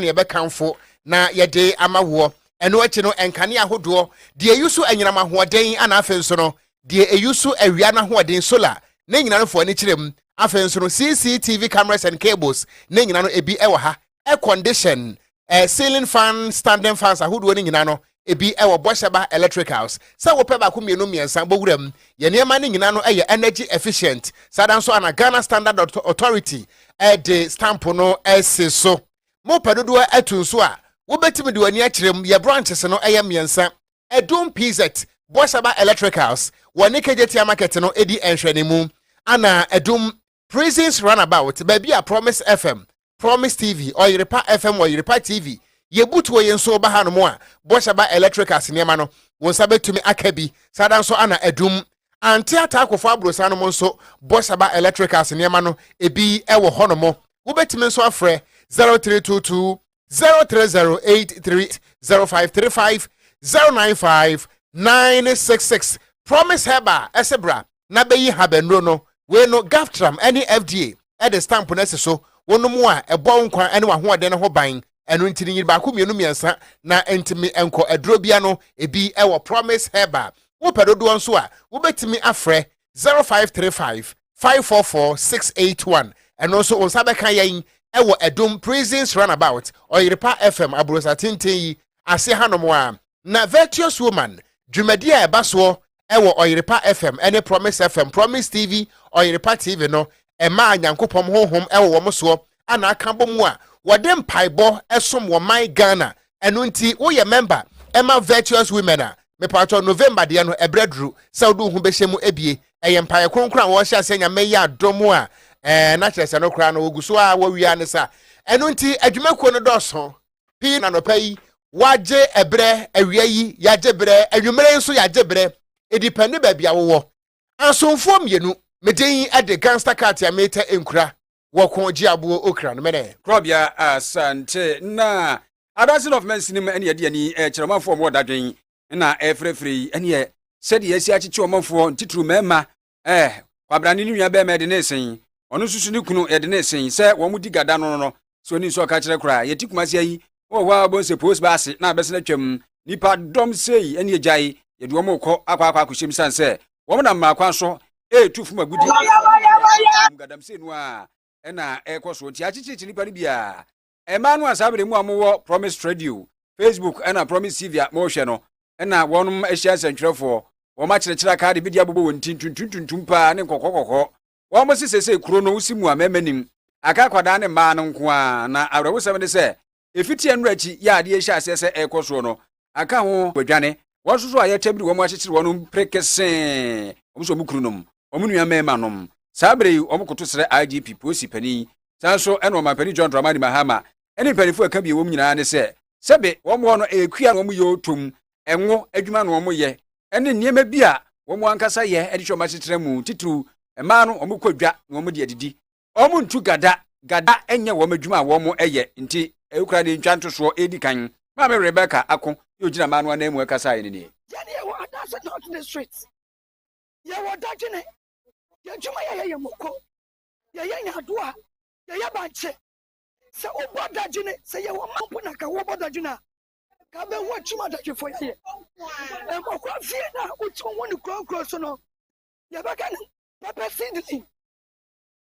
na yɛbɛkamfo na yɛde ama woɔ. Ɛno akyi no, nkanea ahodoɔ, deɛ ɛyi so anyinam ahoɔden ana afei nso no, deɛ ɛyi so awia no ahoɔden, solar, ne nyina no fo ani kyerɛ mu. Afei nso no, CCTV cameras and cables ne nyina no, ebi wɔ ha. Air condition, eh, ceiling fan, standing fans ahodoɔ no nyina no, ebi wɔ Bosheba Electricals. Sɛ wopɛ baako mmienu mmiɛnsa bɔ wuram. Yɛn nneɛma no nyinaa no yɛ energy efficient. Saa da nso a na Ghana Standard Authority de stamp no si so. Mopɛ dodoɔ atu nso a, wobɛtumi de w'ani akyerɛ mu. Yɛn branches no yɛ mmiɛnsa. Adum PZ, Bosheba Electricals, wɔne Kegyetia Market no di nhwɛanimu, ɛnna Adum Prisons Runabout, baabi a Promise FM, Promise TV, Ɔyerepa FM, Ɔyerepa TV, Yebutuo yi nso ba hanom a, Boshaba Electricals nneɛma no, wo nsa bɛtumi aka bi. Saa da nso ana adum. Ante Ataakofo Aborosan nom nso, Boshaba Electricals nneɛma no, ebi wɔ hɔnom. Wobɛtumi nso afrɛ 0322 0308305350959666 promise herbal ɛsɛ bra na bɛyi habɛnuro no wei no gaftram ɛne fda ɛde stamp no asi so wonom a ɛbɔ wo nkwa ɛne w'ahoɔden no ho ban ɛno nti no nyini baako mmienu mmiɛnsa na ntumi nkɔ aduro bia no ebi ɛwɔ promise herbal wopɛ dodoɔ nso a wobɛtumi afrɛ zero five three five five four four six eight one ɛno nso wɔn nsa bɛka yɛn ɛwɔ ɛdum prisons runabout ɔyerepa fm aburosa tenten yi ase hanom a na virtuous woman dwumadi a ɛba soɔ ɛwɔ ɔyerepa fm ɛne promise fm promise tv ɔyerepa tv no ɛmaa nyankopɔn honhom ɛwɔ wɔn soɔ a na aka abɔ mu a wɔde mpaebɔ som wɔ man Ghana. Ɛno nti woyɛ mɛmba ɛma Virtuous Women a, mepaatɔ November deɛ no ɛberɛ duru sɛ wode wo ho bɛhyɛ mu ɛbie. Ɛyɛ mpaeɛ kronkron a wɔhyɛ aseɛ Nyame yɛ adom a ɛɛ na kyerɛ sɛ no koraa no wɔgu so a wɔwie a ne sa. Ɛno nti adwumakuo no dɔɔso pii na nɔpa yi wɔagye ɛberɛ, awia yi yɛagye berɛ, anwummerɛ yi nso yɛagye berɛ. Ɛdipɛnde baabi a wowɔ. Asomfoɔ mmienu me den de gangster cut a meta nkura wɔ ko gye aboɔ okra no mene. Korɔbea Asante na adanse no of mansinim ɛne ɛde ani ɛkyerɛ ɔmanfoɔ ɔmo wɔ dadwen na ɛfrɛfrɛ yi ɛneɛ sɛdeɛ yɛasi akyekye ɔmanfoɔ ntitiriw mmarima ɛɛ kwabrane ne nua barima yɛde ne sen ɔno nso so ne kunu yɛde ne sen sɛ wɔn mo di gada no no so ni nso ɔka kyerɛ koraa yɛte kumase ayi wɔ hɔ a wɔn sɛ post baa ase na abɛsena atwam nipa dɔm sei ɛne agyae yɛde wɔn rekɔ akɔ akɔ akɔhyɛm san sɛ wɔn nam mmaa kwan so ɛretu fam agudi gadamsei no a ɛna ɛrekɔ so nti akyekyerekye nipa no bi a ɛmaa no a saa bere mu a wɔwɔ promise radio facebook ɛna promise tv a wɔrehwɛ no ɛna wɔn ahyia nsɛntwerɛfoɔ wɔn akyerɛkyerɛ akaade bi de abobɔ wɔn ti ntuntuntuntum paa ne nkɔkɔkɔkɔ Wɔn se seesei kuro no si mua mmarima nnim, aka akwadaa ne mmaa no nko ara, na awerɛhosɛm ne sɛ, ɛfiti ɛnnora akyi yi a adeɛ rehyɛ aseɛ sɛ ɛrekɔ soɔ no, aka ho badwane. Wɔn nso so a yɛtɛm de wɔn akyekyere wɔn mpere kesee, wɔn sɛ wɔn kununom, wɔn nua mmarima nom. Saa berɛ yi, wɔkoto srɛ IGP, polisi panin, saa nso ne Ɔmanpanin John Dramani Mahama ne mpaninfoɔ a ɛka bie wɔ mu nyinaa ne sɛ, sɛbe wɔn hɔ no ɛyɛ kua na wɔn yɛ ɔtɔ mu, ngo adwuma na wɔyɛ ne nneɛma bi a wɔn ankasa yɛ de hwɛ wɔn asetena mu. Titiriw, mmaa no wɔkɔ dwa na wɔde adidi. Wɔntu gada. Gada nyɛ wɔn adwuma a wɔyɛ nti, ɛho kura ne ntwa ntosoɔ edi kan. Maame Rebecca Ako ne ogyina mmaa no ananmu ɛkasaeɛ no nie. Yɛn yɛwɔ Adasa North District. Yɛwɔ dadwene. Yɛn adwuma yɛyɛ yɛ moko. Yɛyɛ nyadoa. Yɛyɛ bankye. Sɛ wobɔ dadwene, sɛ yɛwɔ mma mpo na ka wobɔ dadwene a, ka bɛ ho akyim adagyefo yɛyɛ mmɔkwa fie na wotumi wo ne kurɔnkurɔ so no yɛbɛka no pɛpɛ seedling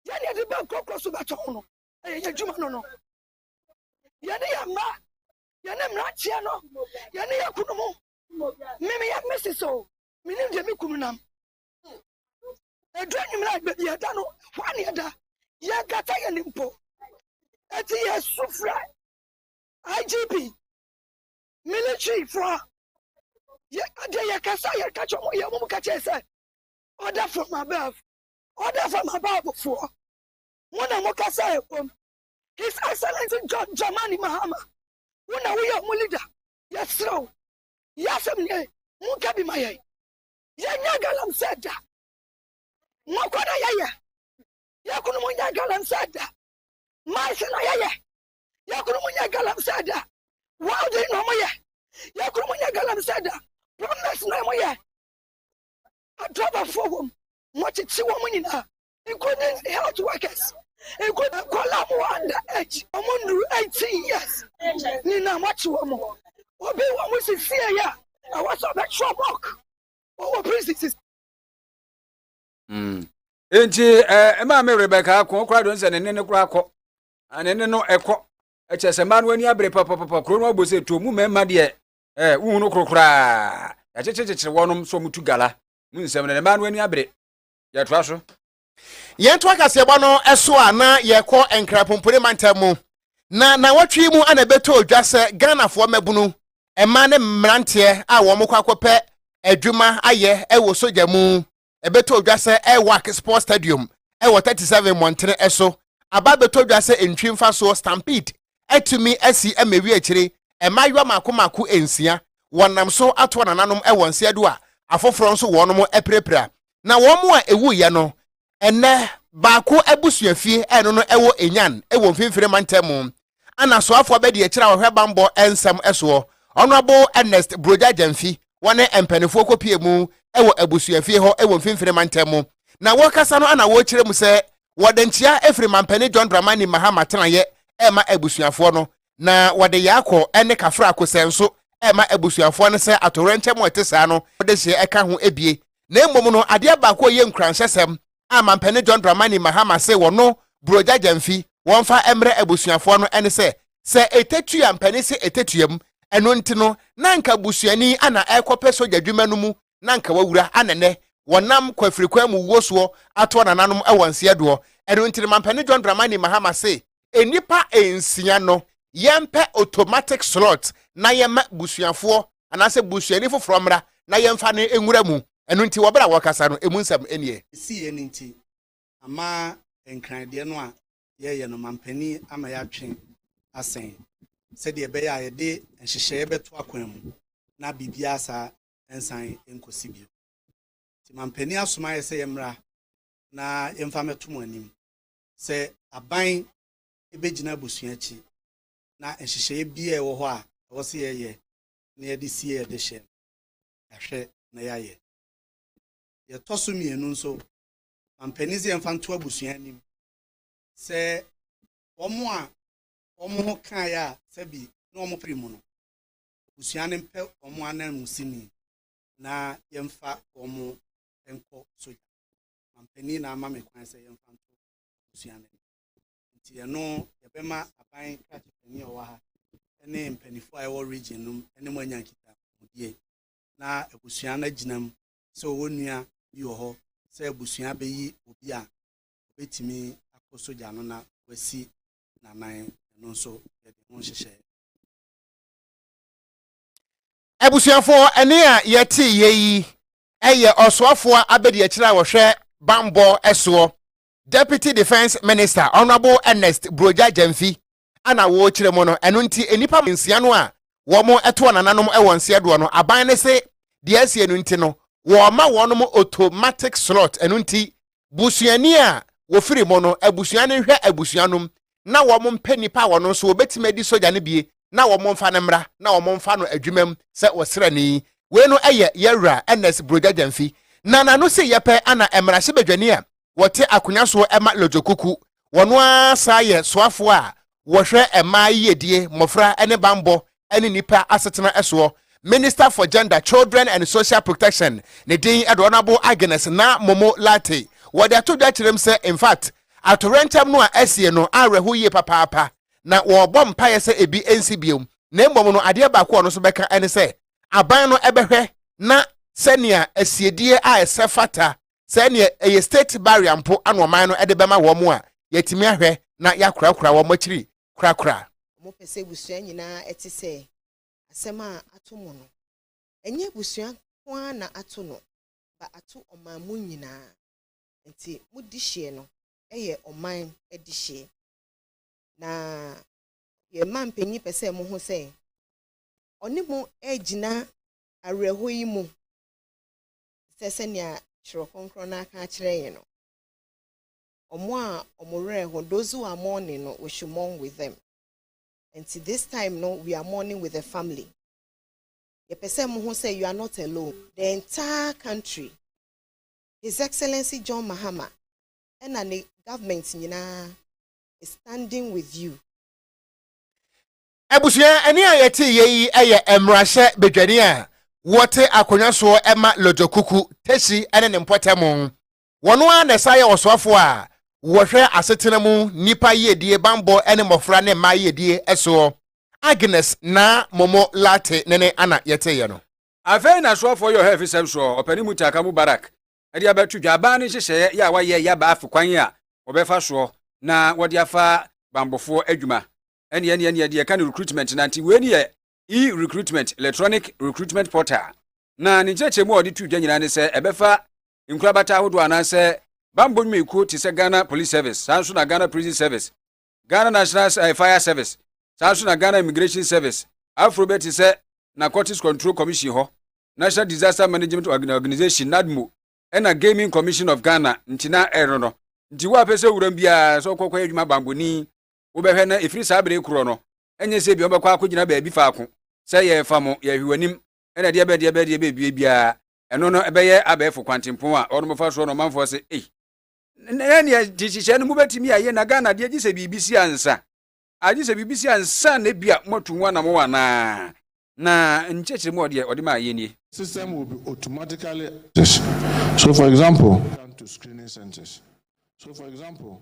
yɛne yɛde bɛ kurɔkurɔ so bɛtɔ ho no ɛyɛ yɛ adwuma no no yɛne yɛ mma yɛne mmeranteɛ no yɛne yɛ kunu mu meme yɛ mese sɛ o menim deɛ me kunu nam ɛdu anwummerɛ a baabi ɛda no hɔ a ne ɛda yɛnkata yɛne mpo ɛti yɛsu frɛ IGP, military fo a, yɛ adeɛ yɛ kasa yɛ kakyɛ ɔmo yɛ ɔmo kakyɛ sɛ order from above order from above foɔ mo na mo kasa ɛbom his excellence john germany mahama wo na woyɛ ɔmo leader yɛserɛ wo yɛ asɛm neɛ monka bi ma yɛn yɛnyɛ galamsɛ da mɔkɔ na yɛyɛ yɛkunu mo nyɛ galamsɛ da maase na yɛyɛ yɛkoro mu nyɛ galamsɛ da welding na wɔyɛ yɛkoro mu nyɛ galamsɛ da plumbers na wɔyɛ adrabafoɔ wɔm wɔkyekye wɔn nyinaa including health workers including nkwadaa mu under age wɔn nnuru eighteen years nyinaa wɔakye wɔn obi wɔn sisi yɛ a ɛwɔ sɛ ɔbɛtwerɛ bɔk ɔwɔ prison sisi. nti ɛɛ maa mi rebɛka ko kora do nsɛ ne ne ne kora kɔ. ɛne ne no ɛkɔ ɛkyɛ sɛ mmaa no ani abere papapapa kuro no abɔ sɛ tuo mu mmarima deɛ ɛɛ wohu no koro koraa yɛakyekyerekyekyere wɔnom sɛ wɔtu gala mu nsɛm no ne mmaa no ani abere yɛtoa so yɛnto akaseɛbɔ no ɛso a na yɛkɔ nkrapompone mantam mu na nawɔtwe mu ana ɛbɛtɔ dwa sɛ ghanafoɔ mmabunu mmaa ne mmeranteɛ a wɔn kɔ akɔpɛ adwuma ayɛ ɛwɔ sogya mu ɛbɛtɔ dwa sɛ Airwack Sports Stadium wɔ 37 mmɔntene so aba abɛtɔ dwa sɛ ntwi mfasoɔ Stampede atumi asi ama awie akyire mmaayewa mmaako mmaako nsia wɔnam so atoa nananom wɔ nseɛ do a afoforɔ nso wɔnom apirapira na wɔn a ɛwuiɛ no ɛnɛ baako abusuafie ɛno no ɛwɔ Enyan ɛwɔ mfimfini mantam mu Ana soafo abadiakyiri a wɔhwɛ bammɔ nsɛm soɔ, Honourable Ernest Brogya Gyamfi, wɔne mpaninfoɔ kɔpuee mu wɔ abusuafie hɔ wɔ Mfimfini Mantam mu, na wɔrekasa no ana wɔrekyerɛ mu sɛ wɔde nkyea firi Mampanin John Dramani Mahama tenaeɛ rema abusuafoɔ no, na wɔde Yaakɔ ne Kafra Kosɛe nso rema abusuafoɔ no sɛ atowerɛnkyɛm a ɛte saa no wɔde hyeɛ ka ho bie, na mmom no adeɛ baako a ɛyɛ nkuranhyɛsɛm a Mampanin John Dramani Mahama se wɔno Buroja Gyamfi wɔmfa mmrɛ abusuafoɔ no ne sɛ, sɛ ɛtatu a mpanin se ɛtatuam, ɛno nti no na anka busuani ana ɛrekɔpɛ sogya dwuma no mu na anka wawura ana nnɛ wɔnam kwafirikwan mu wuo soɔ atoɔ nananom wɔ nseɛdoɔ. Ɛno nti no Mampanin John Dramani Mahama se nnipa nsia no yɛmpɛ automatic slot na yɛma busuafoɔ anaasɛ busuani foforɔ mmra na yɛmfa no nwura mu. Ɛno nti wɔ berɛ a wɔrekasa no, ɛmu nsɛm nnie. Ɛsiiɛ no nti, ama Nkran deɛ no a yɛreyɛ no, mampanin ama yɛatwe asɛn sɛdeɛ ɛbɛyɛ a yɛde nhyehyɛeɛ bɛto akwan mu na biribiara saa nsan nkɔsi bio. Nti mampanin asoma yɛn sɛ yɛmmra na yɛmfa mmɛto mo anim. sɛ aban bɛgyina abusua akyi na nhyehyɛeɛ biara ɛwɔ hɔ a ɛwɔ sɛ yɛyɛ na yɛde sie yɛn dehyeɛ no, yɛahwɛ na yɛayɛ. Deɛ ɛtɔ so mmienu nso, mampanin sɛ yɛmfa nto abusua anim sɛ wɔn a wɔn ho kaeɛ a sɛbi na wɔn pere mu no, abusua no mpɛ wɔn ananmusini na yɛmfa wɔn nkɔ sogya. mampanin na ama me kwan sɛ yɛmfa nto abusua no nti ɛno yɛbɛma aban krakye panin a ɔwɔ ha ne mpanimfoɔ a ɛwɔ region no ne mo anya nkitahodie na abusua no agyina mu sɛ ɔwɔ nua bi wɔ hɔ sɛ abusua bɛyi obi a ɔbɛtumi akɔ sogya no na wasi nanan ɛno nso yɛde ho nhyehyɛe abusuafoɔ ɛne a yɛte yɛ yi yɛ ɔsoafoɔ abadiakyire a ɔhwɛ bammɔ soɔ, Deputy Defence Minister, Honourable Ernest Brogya Gyamfi na wɔrekyerɛ mu no. Ɛno nti nnipa nsia no a wɔtoɔ nananom wɔ nseɛdoɔ no, aban no se deɛ asie no nti no, wɔrema wɔnom automatic slot, ɛno nti busuani a wɔfiri mu no abusua no nhwɛ abusua nom na wɔn mpɛ nnipa a wɔn nso wɔbɛtumi adi sogya no bie na wɔn mfa no mmra na wɔn mfa no adwumam sɛ ɔsrani. Wei no yɛ yɛn wura Ernest Brogya Gyamfi na n'ano se yɛ pɛ ana mmarahyɛbadwani a wɔte akonya soɔ ma Lodzokuku, wɔn ara saa yɛ soafoɔ a wɔhwɛ mmaa yiyedie, mmɔfra ne banbɔ ne nnipa asetena soɔ, Minister for Gender, Children and Social Protection, ne din de Honourable Agnes Naa Momo Lartey, wɔde ato dwa kyerɛm sɛ infact atoyerɛnkyɛm no a asie no awerɛho yie papaapa na wɔrebɔ mpaeɛ sɛ ebi nsi bio na mmom no adeɛ baako a ɔno nso bɛka ne sɛ aban no bɛhwɛ na sɛnea asiedie a ɛsɛ fata sɛ neɛ ɛyɛ state barrier mpo ana ɔman no de bɛma wɔn a, yɛatumi ahwɛ na yɛakorakora wɔn akyiri korakora. Wɔpɛ sɛ abusua nyinaa te sɛ asɛm a ato mo no. Ɛnyɛ abusua nko ara na ato no ba ato ɔman mu nyinaa. Enti mo dehyeɛ no yɛ ɔman dehyeɛ. Na yɛn manpanyin pɛ sɛ moho sɛ ɔne mo regyina awerɛhɔ yi mu. sɛ sɛnea Kyerɛw Kronkron no aka akyerɛ yɛn no, Wɔn a wɔn werɛ ho, those who are mourning no, we should mourn with them. Nti this time no, we are mourning with the family. Yɛpɛ sɛ mohu sɛ you are not alone. The entire country, His Excellency John Mahama ɛna ne government nyinaa is standing with you. Abusua ani a yɛte yɛ yi yɛ mmarahyɛ badwani a wɔte akonnwa soɔ ma Lodjo Kuku, Tesi ne ne mpɔtam. Wɔn ara na ɛsan yɛ ɔsoafoɔ a wɔhwɛ asetena mu nnipa yiedie bammɔ ne mmɔfra ne mmaa yiedie soɔ. Agnes Naa Momo Lartey ne ne ana yɛteeɛ no. Afei na soafoɔ yɛ ɔhɛfisɛm soɔ ɔpanin Mutaka Mubarak de abɛto dwa. Aban no nhyehyɛeɛ yɛ a wɔayɛ yɛ aba afe kwan a wɔbɛfa soɔ na wɔde afa bammɔfoɔ adwuma Ɛne ɛne ɛne ɛde ɛka no recruitment na nti wei ne yɛ e-recruitment electronic recruitment portal na ne nkyerɛkyerɛmu a ɔde tu dwa nyinaa ne sɛ ɛbɛfa nkorabata ahodoɔ anaasɛ bammɔ nnwumayɛkuo te sɛ Ghana Police Service saa nso na Ghana Prison Service Ghana National eh, Fire Service saa nso na Ghana Immigration Service aforo bɛ te sɛ Narcotics Control Commission hɔ National Disaster Management Organization NADMO ɛna Gaming Commission of Ghana nti na ɛno no nti wo a pɛ sɛ wuram biara sɛ ɔkɔkɔyɛ adwuma bammɔni wobɛhwɛ na ɛfiri saa bere korɔ no, ɛnyɛ sɛ ebia wobɛkɔ akɔgyina baabi faako sɛ yɛrefa mo, yɛrehwɛ w'anim, ɛna deɛ bɛdeɛ bɛdeɛ bɛbue biara, ɛno no ɛbɛyɛ abɛɛfo kwantempɔn a wɔnom fa soɔ no ɔmanfoɔ se, ei, na ɛneɛ gye hyehyɛ no mobɛtumi ayɛ na Ghana deɛ gye sɛ biribi si ansa, agye sɛ biribi si ansa na ebia moatu ho anamɔ anaa, na nkyerɛkyerɛ mu ɔdeɛ ɔde maa yɛ nie. system will be automatically accessed so for example to screening centers so for example.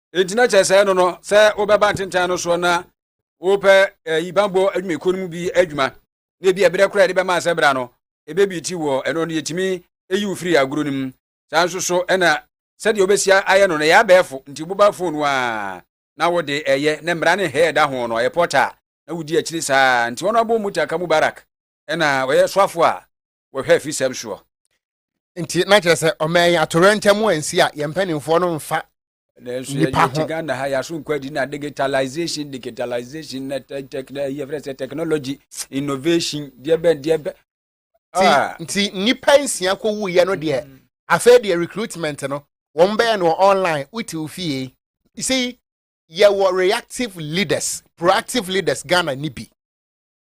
ɛgyina kyɛ sɛ no no sɛ wobɛba ntentan no soɔ na wopɛ ɛyi eh, banbɔ adwumakuo no mu bi adwuma na ebi ɛberɛ koraa yɛde bɛma asɛ bra no ɛbɛbi ti wɔ ɛno no yɛtumi ɛyi wo firi agorɔ no mu saa nso so ɛna sɛdeɛ wobɛsia ayɛ no no ɛyɛ abɛɛfo nti woba fon no a na wode ɛyɛ na mmara ne hɛ ɛda ho no ɛyɛ pɔta na wodi akyiri saa nti wɔn abɔ mu taka mubarak ɛna ɔyɛ soafo a wɔhwɛ afisɛm soɔ. nti na kyerɛ sɛ ɔma yɛn atorɛntɛm ansi a yɛn mpanimfoɔ no mfa nanso nipa ho ghana ha yɛaso nkɔ adi na digitalization digitalization na yɛfrɛ sɛ technology innovation deɛ bɛn deɛ bɛn ah. nti nnipa nsia kɔ wuyɛ no deɛ mm. afei deɛ recruitment no wɔn bɛyɛ no online wote wo fie you see yɛwɔ reactive leaders proactive leaders ghana ni bi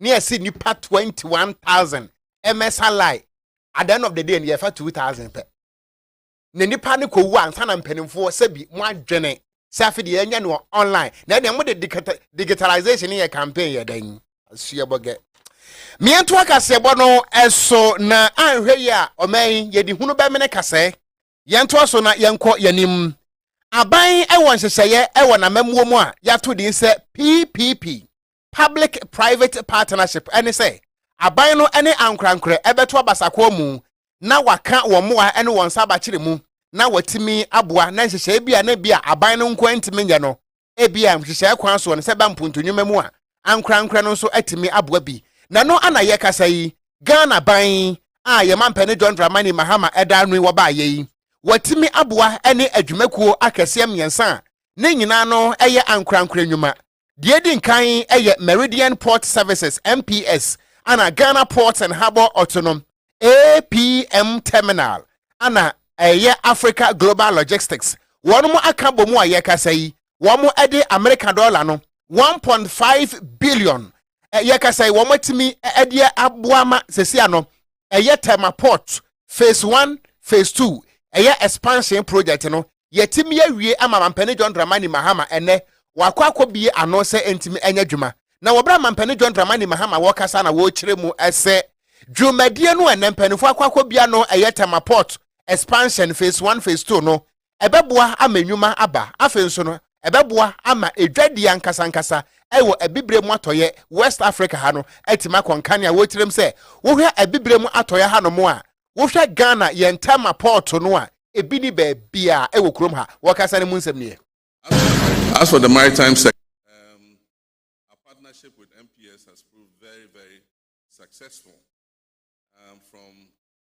ne ɛse nipa twenty one thousand ɛmɛsa lie at the end of the day no yɛfa two thousand pɛ na nipa no kɔ wu ansa na mpanimfoɔ sɛbi mo adwene sɛ afei deɛ yɛnyɛ no online na ɛdeɛ mo de digitalization yɛ campaign yɛ dɛn suabɔ gɛ mmiɛnto akaseɛbɔ no ɛso na anhwɛ yi a ɔman yi yɛde hunu bɛmene kasɛɛ yɛntoa so na yɛnkɔ yɛnim aban ɛwɔ nhyehyɛeɛ ɛwɔ n'amammuo mu a yɛato din sɛ ppp public-private partnership, ne sɛ aban no ne ankorankorɛ bɛto abasakoa mu na wɔaka wɔn mmoa ne wɔn nsa abakyere mu na wɔatumi aboa, na nhyehyɛe bi a na ebia aban no nko ara ntumi nyɛ no, ebia nhyehyɛe kwan so no, sɛ ɛba mpontunnwuma mu a, ankorankorɛ no nso atumi aboa bi. Na ɛno a na yɛkasa yi, Ghana ban a yɛn mampanin John Dramani Mahama da ano yi wɔbaeɛ yi, wɔatumi aboa ne adwumakuo akɛseɛ mmiɛnsa a ne nyinaa no yɛ ankorankorɛ nnwuma, Deɛ edi nkan yɛ Meridian Port Services, MPS, ana Ghana Ports and Harbour Autonom, APM, Terminal, ana ɛyɛ Africa Global Logistics. Wɔn mo aka bɔ mu a yɛkasa yi, wɔn mo ɛde Amerika dɔla no 1.5 billion, yɛkasa yi wɔn atumi ɛdeɛ aboa ma sɛsi ano ɛyɛ Tema Port Phase One, Phase Two, ɛyɛ expansion project no, yɛatumi awie ama Mampanin John Dramani Mahama ɛnnɛ wɔakɔ akɔbue ano sɛ ɛntumi ɛnyɛ adwuma. Na wɔ berɛ a Mampanin John Dramani Mahama wɔkasa na wɔkyerɛ mu sɛ dwumadie no ɛnnɛ mpaninfoɔ akɔ akɔbue ano ɛyɛ Tema Port Expansion Phase One, Phase Two no, Ɛbɛboa ama nnwuma aba. Afei nso no, ɛbɛboa ama dwadie ankasa ankasa wɔ abibire mu atɔeɛ, West Africa ha no, atumi akɔ nkanea. Wotirim sɛ wohwɛ abibire mu atɔeɛ hanom a, wohwɛ Ghana yɛn Tema pɔɔto no a, ebi nni baabiara wɔ kurom ha. Wɔkasa no mu nsɛm nie. As for the maritime sector, our partnership with MPS has proved very, very successful from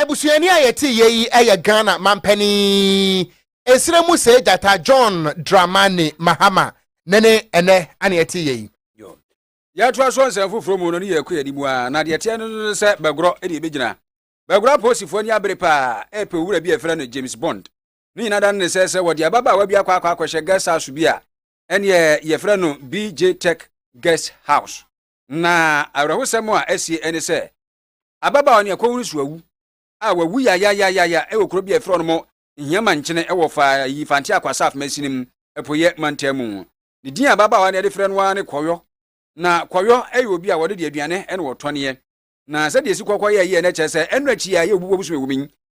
abusuani a yɛte yɛ yi yɛ ghana mampanin nsira mu sɛ gyata john dramani mahama ne ne ɛnɛ ana yɛte yɛ yi yɛtoa so nsɛm foforɔ mu no ne yɛkɔ yɛde mu a na deɛ teɛ no no sɛ bɛgorɔ ɛne ɛbɛgyina bɛgorɔ apolisifoɔ ani abere paa ɛpɛ owura bi a ɛfrɛ no james bond ne nyina da no ne sɛ sɛ wɔde ababaawa bi akɔ akɔ akɔhyɛ guest house bi a ɛneɛ yɛfrɛ no bj tech guest house Na awerɛhosɛm a asie ne sɛ, ababaawa no yɛ kɔnhurusuawu a wawu yayayayaya wɔ kuro bi a ɛfrɛ no Nhiama nkyene wɔ Fayi Fante Akwasaf Mansini mu, Apueɛ Mantam mu. Ne din a ababaawa no yɛde frɛ no ara ne Kɔyɔ. Na Kɔyɔ yɛ obi a wɔde deɛ aduane na wɔtɔneɛ. Na sɛdeɛ sikɔkɔ yɛeɛ no kyerɛ sɛ ɛno akyi a yɛ obubu abusua wɔ mu yi,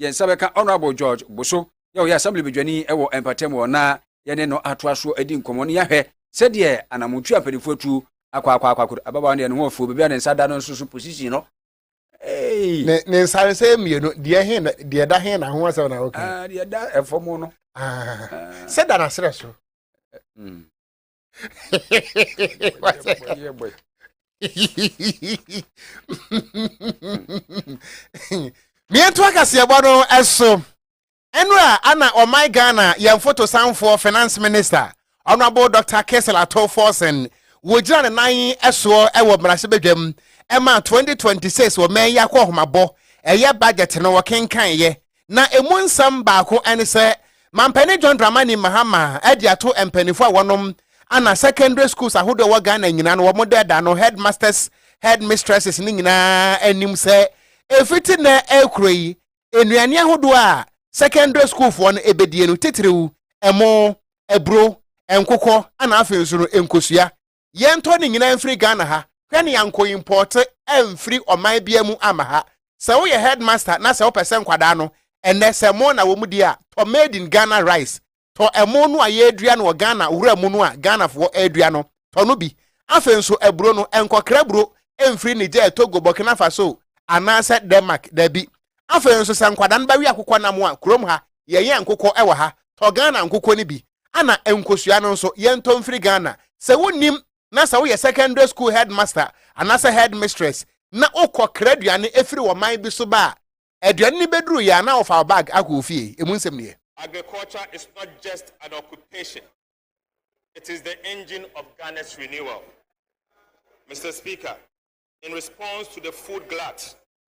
yɛn nsa bɛka Honourable George Boso a ɔyɛ Assembly badwani wɔ mpɔtam hɔ na yɛne no atoa so adi nkɔmmɔ na yɛahwɛ sɛdeɛ anammɔntuo a mpanimfoɔ atu akɔ akɔ akɔ akɔ ababaawa no deɛ ne ho afuo baabi a ne nsa da no nso so position no Hey. Ne ne nsaresɛe mmienu deɛ he na deɛ da he na ho asɛm na woka. Ah, deɛ da ɛfam no. Ah, ah. Sɛ da n'aserɛ so. Mm. mmiɛnto akaseɛbɔ no ɛso ɛnura ana ɔman ghana yɛn fotosanfoɔ finance minister honourable dr kesel ato forsen wɔgyina ne nan ɛsoɔ ɛwɔ mmarahyɛbadwam ɛma 2026 wɔmɛn yɛ akɔ ɔhomabɔ ɛyɛ budget no wɔkenkan yɛ Na emu nsɛm baako ne sɛ Mampanin John Dramani Mahama adi ato mpaninfoɔ a wɔnom ana secondary schools ahodoɔ ɛwɔ Ghana nyinaa no wɔn dɛɛda no headmasters, headmistresses no nyinaa anim sɛ ɛfiti nnɛ ɛrekuro yi nnuane ahodoɔ a secondary schoolfoɔ no ɛbɛdie no titiriw ɛmo, aburo, nkokɔ ana afei nso no nkosua yɛntɔ ne nyinaa mfiri Ghana ha hwɛ ne yankɔ impɔɔte amfiri ɔman bia mu ama ha sɛ woyɛ headmaster na sɛ wopɛ sɛ nkwadaa no ɛnɛ sɛ mo na wɔn di a tɔ made in Ghana rice tɔ ɛmo no a yɛredua no wɔ Ghana wura mu no a Ghanafoɔ ɛredua no tɔ no bi afei nso aburo no ɛnkɔkra aburo ɛmfiri Niger Togo Burkina Faso anaasɛ Denmark dabi Afei nso sɛ nkwadaa no bɛwe akokɔ nam a, kurom ha, yɛyɛn nkokɔ wɔ ha, tɔ Ghana nkokɔ no bi. Ɛna nkosua no nso, yɛntɔ mfiri Ghana. Sɛ wonnim na sɛ woyɛ secondary school headmaster anaasɛ headmistress na wokɔ kra aduane firi ɔman bi so ba a, aduane no bɛduru yɛ a na wofa wo bag akɔ wo fie. Ɛmu nsɛm ni ɛ. Agriculture is not just an occupation, it is the engine of Ghana's renewal. Mister Speaker, in response to the food glut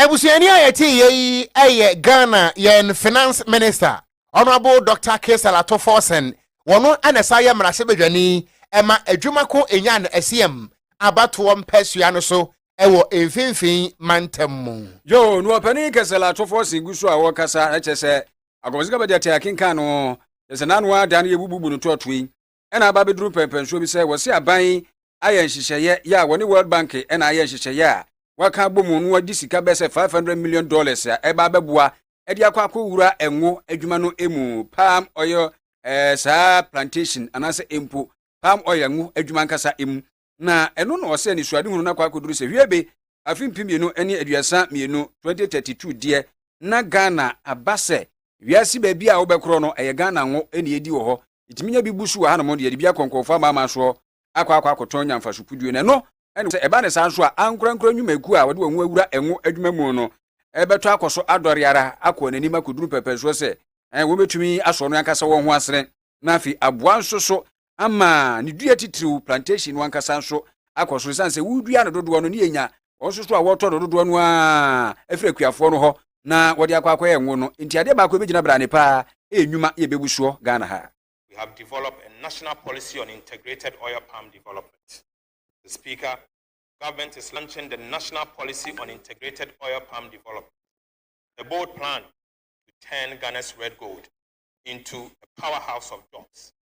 Abusuani a yɛte yɛ yi yɛ Ghana yɛn Finance Minister, Honourable Doctor Caesar Ato Forson, wɔn na ɛsan yɛ mmarahyɛbadwani ma adwuma ko Enyan Asiam abatoɔ mpasua no so wɔ mfimfini mantam mu. Yoo, na ɔpanin Caesar Ato Forson gu so a ɔrekasa, kyerɛ sɛ, Akɔmfo Sika Bɛgyatɛ akenkan no, kyerɛ sɛ n'ano ara da no yɛbububu no toatoa yi. na aba abɛduru mpɛnpɛnsoɔ bi sɛ wɔse aban yi ayɛ nhyehyɛeɛ yɛ a wɔne World Bank na ayɛ nhyehyɛeɛ a wɔaka abɔ mu na wɔde sika bɛyɛ sɛ 500 million dollars a ɛba abɛboa de akɔ akɔwura ngo adwuma no mu palm oil eh, saa plantation anaasɛ mpo palm oil ngo adwuma ankasa mu na ɛno na ɔsɛ anisoadehunu no akɔ akɔduru sɛ hwiebe afe mpem mmienu ne aduasa mmienu, 2032, deɛ na Ghana aba sɛ wiase baabi a wobɛkorɔ no ɛyɛ Ghana ngo na ɛdi wɔ hɔ, yɛtumi nya bi bu so wɔ hanom deɛ yɛde bi akɔ nkɔɔfoɔ amanaman soɔ akɔ akɔ akɔtɔn nya mfaso puduo no ɛno na sɛ ɛba ne saa nso a ankorankora nnwumakuo a wɔde wɔn ho awura ngo adwuma mu no ɛbɛtɔ akɔ so adɔre ara akɔ wɔn anim akɔduru pɛpɛsoɔ sɛ wɔbɛtumi asɔ no ankasa wɔn ho asene na afei aboa nso so ama ne dua titiriw plantation no ankasa nso akɔ so esiane sɛ wodua no dodoɔ no ne yɛnya wɔn nso so a wɔtɔ no dodoɔ no a ɛfiri akuafoɔ no hɔ na wɔde akɔ akɔyɛ ngo no nti adeɛ baako ɛbɛgyina brane paa ɛyɛ nnwuma yɛ bɛbu soɔ Ghana ha. We have developed a national policy on integrated oil palm development. Mr. Speaker, Government is launching the national policy on integrated oil palm development, a bold plan to turn Ghana's red gold into a powerhouse of jobs.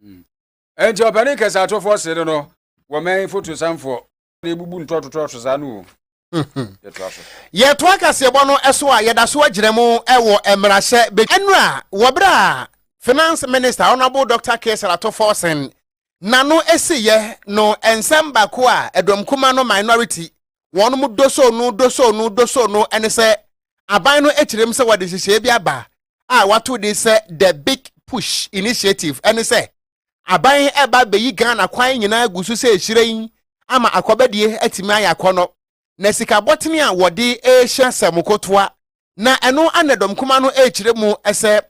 Hmm. Enti ɔpanin kɛse atɔfoɔ sere no wɔ mɛn fotosanfoɔ na ebubu ntɔtotɔto saa no o. yɛtoa kaseɛbɔ no so a yɛda so agyina mu wɔ mmarahyɛ bɛ ɛnora wɔ berɛ a finance minister honorable dr ksar atofo sen n'ano esiyɛ no nsɛm baako a ɛdɔm kuma no minority wɔnom dosoo no dosoo no dosoo no ne sɛ aban no kyerɛ mu sɛ wɔde nhyehyɛeɛ bi aba a wɔato din sɛ The Big Push Initiative ne sɛ aban ɛba bɛyi Ghana kwan nyinaa gu so sɛ hyerɛn ama akɔbɛdeɛ atumi ayɛ akɔnɔ na sika bɔtene a wɔde rehyɛ sɛ mokotoa na ɛno ana dɔmkuma no rekyerɛ mu sɛ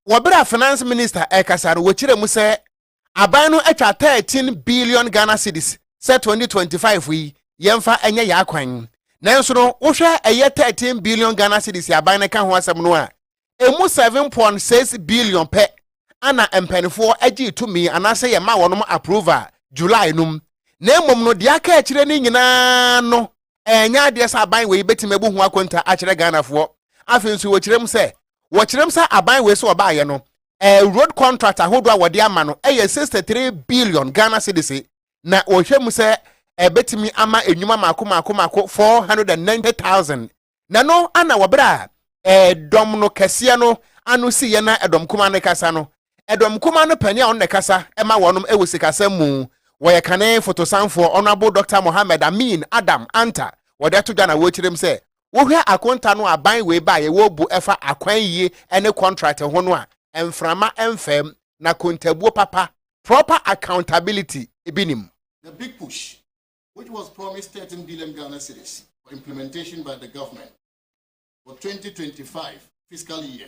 wɔ bere a Finance Minister rekasa no, wɔkyerɛɛ mu sɛ aban no atwa 13 billion Ghana cedis sɛ 2025 yi yɛmfa nyɛ yɛn akwan. Nanso no, wohwɛ ɛyɛ 13 billion Ghana cedis a aban no ka ho asɛm no a, emu 7.6 billion pɛ ana mpanimfoɔ gyee tumi anaasɛ yɛma wɔnom approval July no mu. Na mmom no, deɛ aka akyire no nyinaa no, Ɛnyɛ adeɛ sɛ aban wei bɛtumi abu ho akonta akyerɛ Ghanafoɔ. Afei nso wɔkyerɛ mu sɛ, wɔkyerɛ mu sɛ aban wei sɛ wɔbaeɛ no, road contract ahodoɔ a wɔde ama no yɛ sixty three billion Ghana cedis, na wɔhwɛ mu sɛ ɛbɛtumi ama nnwuma mako mako mako four hundred and ninety thousand. Na no ana wɔ berɛ a ɛdɔm no kɛseɛ no ano siiɛ na ɛdɔm kumaa no rekasa no, Ɛdɔm kumaa no panin a ɔno na ɛkasa ma wɔnom ɛwɔ sikasɛm mu. Wɔyɛ kane fotosanfoɔ Honourable Doctor Mohammed Amin Adam Anta wɔde ato dwa na wɔkyerɛm sɛ wohwɛ akonta no a ban wei baeɛ wɔbu ɛfa akwan yie ɛne contract ho no a mframa mfam na kontabuo papa, proper accountability, bi nim. The big push which was promised thirteen billion Ghana cedis for implementation by the government for twenty twenty five fiscal year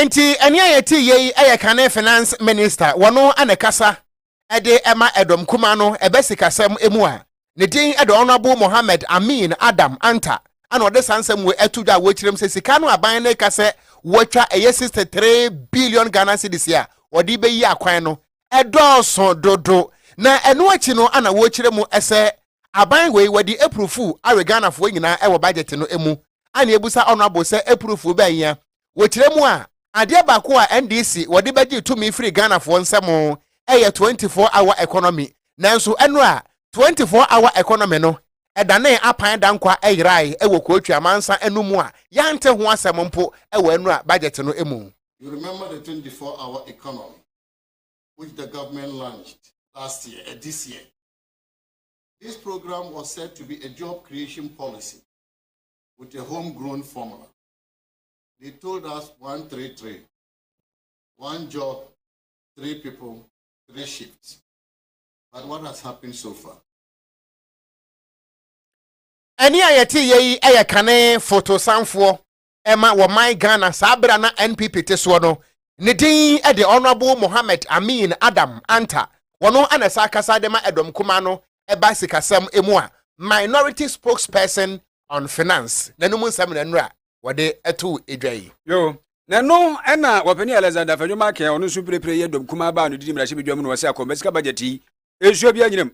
Enti ɛnea yɛte yɛ yi yɛ kane finance minister wɔno na ɛkasa de ma ɛdɔm kumaa no ɛbɛ sikasɛm mu a ne din de Honourable Mohammed Amin Adam Anta na ɔde saa nsɛm wei ɛto dwa a wɔkyerɛm sɛ sika no aban no ka sɛ wɔatwa ɛyɛ sixty three billion Ghana cedis a wɔde bɛyi akwan no ɛdɔɔso dodo na ɛno akyi no ana wɔkyerɛ mu sɛ aban wei wɔde apurufuu awe Ghanafoɔ nyinaa ɛwɔ budget no mu ana ebusa Honourable sɛ apurufuu bɛn ya Wɔ tire mu a, adeɛ baako a NDC wɔde bɛgye tumi firi Ghanafoɔ nsam yɛ 24 hour economy, nanso ɛno a 24 hour economy no danee apan dankwa yerae wɔ Kuotwi amansa no mu a yɛante ho asɛm mpo wɔ annual budget no mu. You remember the 24 hour economy which the government launched last year and this year. This program was said to be a job creation policy with a home grown formula. they told us one three three one job three people three shifts but what has happened so far. ɛne a yɛte yɛ yi yɛ kane fotosanfoɔ ɛma wɔ man ghana saa berɛ na npp te soɔ no ne din de honorable mohammed amin adam anta wɔno ana saa kasa de ma ɛdɔm kuma no ɛba sikasɛm emu a minority spokesperson on Finance na no mu nsɛm na nnora wɔde too dwa yi. Yo, na ɛno na Wɔpanin Alexander Afenyo Markin a ɔno nso mprepre yɛ dɔm kumaa baa no didi mmarahyɛbadwam no, ɔse akɔmba sika budget yi, nsuo biaa nyinam.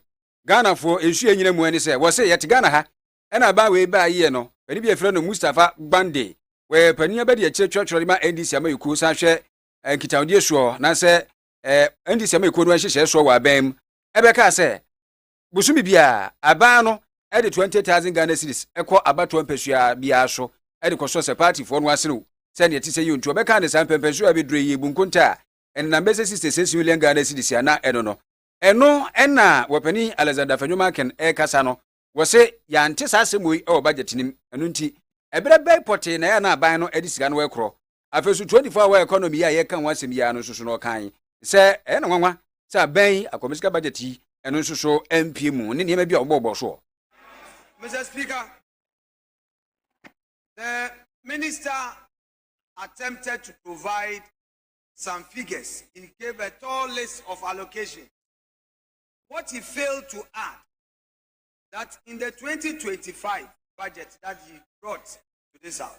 Ghanafoɔ, nsuo a ɛnyina mu ɛne sɛ, wɔse yɛte Ghana ha ɛna aban wei baayɛ no, panin bi a yɛfrɛ no Mustapha Gbande, wɔyɛ panin abadiakyire twerɛtwerɛ de ma NDC amayɛkuo san hwɛ nkitahodie soɔ na sɛ NDC amayɛkuo no nhyehyɛɛ soɔ wɔ aban mu, ɛbɛkaa sɛ, bosome biara, aban no de 20,000 Ghana cedis kɔ abatoɔ mpasua biara so de kɔsɔ sɛ paatifoɔ no aserew sɛ nea ɛte sɛ yie nti wɔbɛka ne saa. Mpɛmpɛnsoɔ a ɛbɛdurɛ yi, ɛbu nkontaa a ɛnenam bɛyɛ sɛ 66 million Ghana cedis a na ɛno no Ɛno na wɔpanin Alexander Afenyo-Markin rekasa no, wɔse yɛante saa asɛm wei wɔ budget no mu, ɛno nti ɛberɛ bɛn pɔtee na ɛyɛ a na aban no de sika no rekorɔ Afasu 24 Hour Economy yi a yɛreka ho asɛm yi ara no nso so no ɔkae sɛ ɛyɛ no nwanwa sɛ aban yi akwamusika budget yi ɛno nso so ampue mu ne nneɛma bi a wɔbɔɔbɔɔ soɔ. Mister Speaker, the minister attempted to provide some figures, he gave a tall list of allocation. What he failed to add that in the 2025 budget that he brought to this house,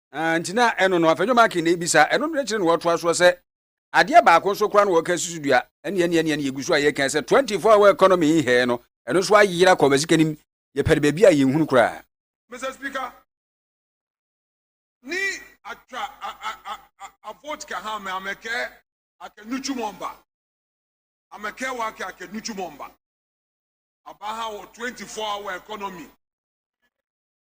Ah, nti na ɛno no, afei John McCain na ebisa, ɛno no ne kyerɛ na wɔtoa soɔ sɛ, adeɛ baako nso koraa na wɔka susu dua, ɛne ɛne ɛne ɛne yɛgu so a yɛka sɛ 24 hour economy yi hɛɛ no, ɛno nso ayera kɔ bɛsi kanim, yɛpɛre baabi a yɛnhunu koraa. Mister Speaker, ni atwa a a a a a vote ka ha me amekɛ ake nuchu mɔmba amekɛ wake ake nuchu mɔmba aba ha wɔ 24 hour economy.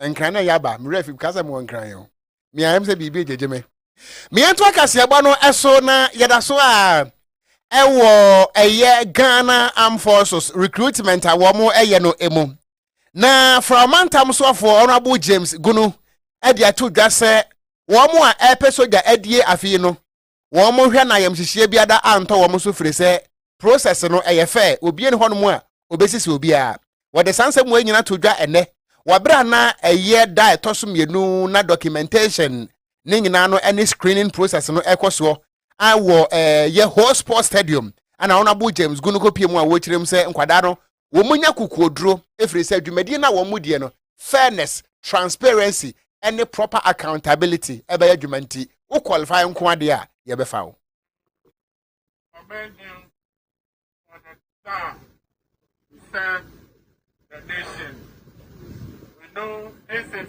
nkran na yaba me werɛ fi ka sɛ mewɔ nkran o me ayɛ sɛ biribi gyegye me meɛ nto akaseɛbɔ no ɛso na yɛda so a ɛwɔ ɛyɛ ghana armed forces recruitment a wɔn ɛyɛ no emu na fra ɔmantam soafoɔ honorable james gunu ɛde ato dwa sɛ wɔn a ɛpɛ sogya adie afei no wɔn mo hwɛ na ayamhyehyeɛ biada antɔ wɔn so firi sɛ process no ɛyɛ fɛ obie ne hɔnom a obesisi obiara wɔde saa nsɛm wei nyina to dwa ɛnɛ wɔ berɛ a na ɛyɛ da ɛtɔ so mmienu na documentation ne nyinaa no ɛne screening process no ɛkɔ soɔ a wɔ ɛɛ yɛ whole sports stadium ɛna wɔn abo James Gunuko pie mu a wɔkyerɛ mu sɛ nkwadaa no wɔnya kokoɔduro ɛfiri sɛ dwumadie no a wɔn mu deɛ no fairness transparency ɛne proper accountability ɛbɛyɛ adwuma nti wo qualify nko adeɛ a yɛbɛfa wo the nation. We know this is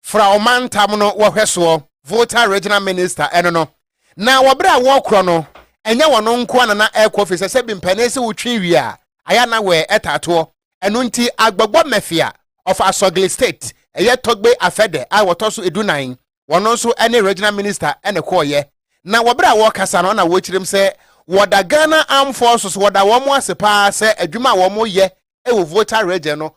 fra ɔmantam no wɔhwɛsoɔ, Volta Regional Minister, ɛno no, na wɔ berɛ a wɔrekorɔ no, ɛnyɛ wɔn nkoa na na ɛrekɔ firi sɛ sɛbi mpanin se wotwe wie a, ayɛ a na wɛɛ ɛtaa toɔ. Ɛno nti Agbogbɔ Mafia of Asogli State, ɛyɛ Togbe afɛdɛ a wɔtɔ so edu nan, wɔn nso ne Regional Minister na ɛkɔɔeɛ. Na wɔ berɛ a wɔrekasa no na wɔrekyerem sɛ wɔda Ghana Armed Forces, wɔda wɔn ase pa ara sɛ adwuma a wɔreyɛ wɔ Volta Region no,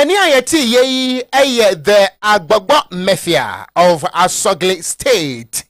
Ɛnne a yɛteeɛ yi yɛ The Agbɔgbɔ Mafia of Asɔgle State,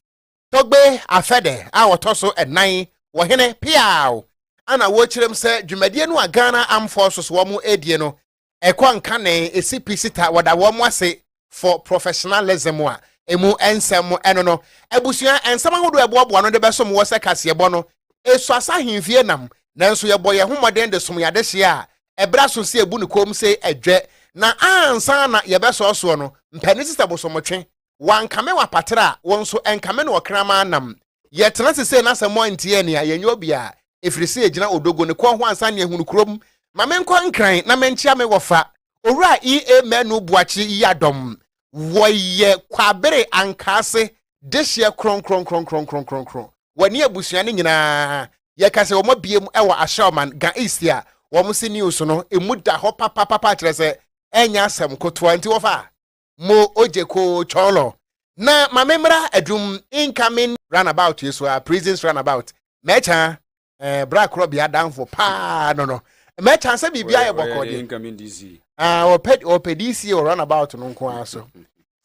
Togbe afɛdɛ a ɔtɔ so nnan wɔ hene Peaw a na wɔkyerɛm sɛ dwumadie no a Ghana Armed Forces wɔn ɛdie no ɛkɔ nkanee ɛsi pi sita wɔda wɔn ase for professionalism a emu nsɛm mu ɛno no abusua nsɛm ahodoɔ ɛboaboa no de bɛsom wɔ sɛ kaseɛbɔ no esu asa ahemfie nam nanso yɛbɔ yɛn ho mmɔden de som yɛn adehyeɛ a ɛbrɛ aso sɛ ebu ne kɔm sɛ ɛdwɛ na ansa na yɛbɛsɔɔ soɔ no mpanin sista bosomotwe wankame wapatra a wɔn nso ɛnkame no ɔkraman nam Yɛtena ase sei na sɛ moantie ɛnne a, yɛnyɛ obiara, ɛfiri sɛ yɛgyina Odogo ne kɔn ho ansa ne ahunu kurom. Ma menkɔ Nkran na menkyea me wɔfa, Owura E. A. Manu Boakye Yiadom. Wɔyɛ Kwabere Ankaase dehyeɛ kronkronkronkronkronkron. Wɔne abusua no nyinaa yɛka sɛ wɔabiam wɔ Ashaiman, Ga East a wɔn se news no mu da hɔ papapapa kyerɛ sɛ ɛnyɛ asɛm kotoa nti wɔfa a. mo ojeko chɔlɔ na ma me mmra adum incoming runabout yi so a prisons runabout mɛkya eh, bra korɔ bea danfo paa no no mɛkya sɛ biribi ayɛ bɔkɔɔ deɛ ah, ɔpɛ ɔpɛ dc wɔ runabout no nko ara so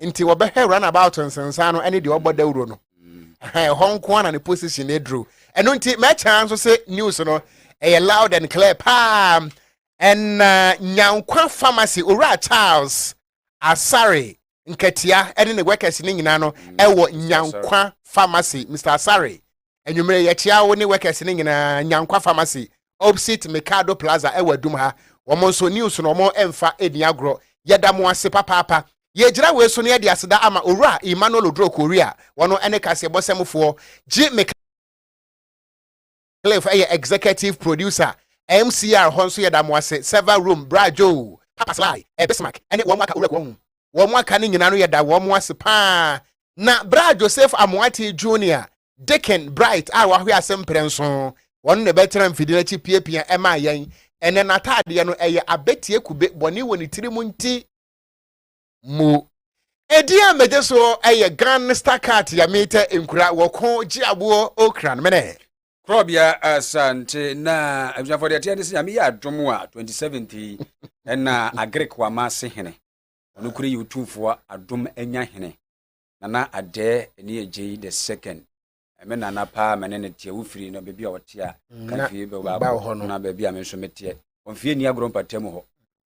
nti wɔbɛhwɛ runabout nsensan no ɛne deɛ ɔbɔ dawuro no ɛhɔ nko ara na ne position aduru ɛno nti mɛkya nso sɛ news no ɛyɛ loud and clear paa Ɛnna Nyankwa Pharmacy Owura Charles Asare Nkatia ne ne workers no nyinaa no wɔ Nyankwa Pharmacy. Mister Asare, anwummere yɛkyea wo ne workers no nyinaa Nyankwa Pharmacy opposite Mikado Plaza wɔ Adum ha. Wɔn nso news no wɔn mfa nni agorɔ. Yɛda mo ase papaapa. Yɛgyina wei so na yɛde aseda ama Owura Emmanuel Oduro Korea, wɔn ne kaseɛbɔsɛmfoɔ, gye me ka. Cliff yɛ Executive Producer, MCR hɔ nso yɛda mo ase, Server Room, Bra Joe, Papa Sly, Bismark ne wɔn aka Owura Kuahu. Wɔn aka no nyinaa no yɛda wɔn ase pa ara. Na Bra Joseph Amoatey Junior, Deacon Bright a wahwe ase mprɛnson, ɔno na ɛbɛtena mfidie no akyi piapia maa yɛn. Ɛnnɛ n'ataadeɛ no ɛyɛ abɛtie kube, bɔne wɔ ne tiri mu nti. mu. Edin a megye so yɛ Gangsta Cat yɛ metɛ nkura wɔ ko gye aboɔ okran mene. Korɔbea Asante na abusuafoɔ deɛ ɛteɛ ne sɛ nyame yɛ adom a 27th yi ɛna Agric wama ase hene ɔno kure yɛ otumfoɔ adom anya hene nana adɛɛ ɛne ɛgyei the second me nana paa me ne no teɛ wofiri no baabi a ɔte a mm, ka fie bɛbaakɔ na baabi a me nso meteɛ ɔmfie ni agorɔ mpata mu hɔ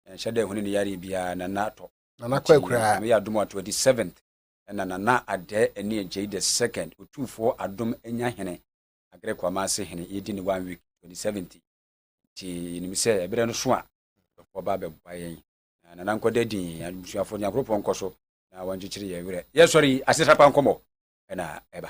ɛnhyɛ dɛ hone ne yare biara nana atɔ meyɛ adom a 27th ɛna nana adɛ ɛne agyei the second ɔtumfoɔ adom anya hene agrɛ kwama ase hene yɛdi ne one week 2017 nti yɛnim sɛ ɛberɛ no so a dɔfoɔ ba bɛboa yɛn na nana nkɔ da din abusuafo nyankopɔn nkɔ so na wɔnkyekyere yɛn werɛ yɛsɔre yi asetrapa nkɔmmɔ ɛna ɛba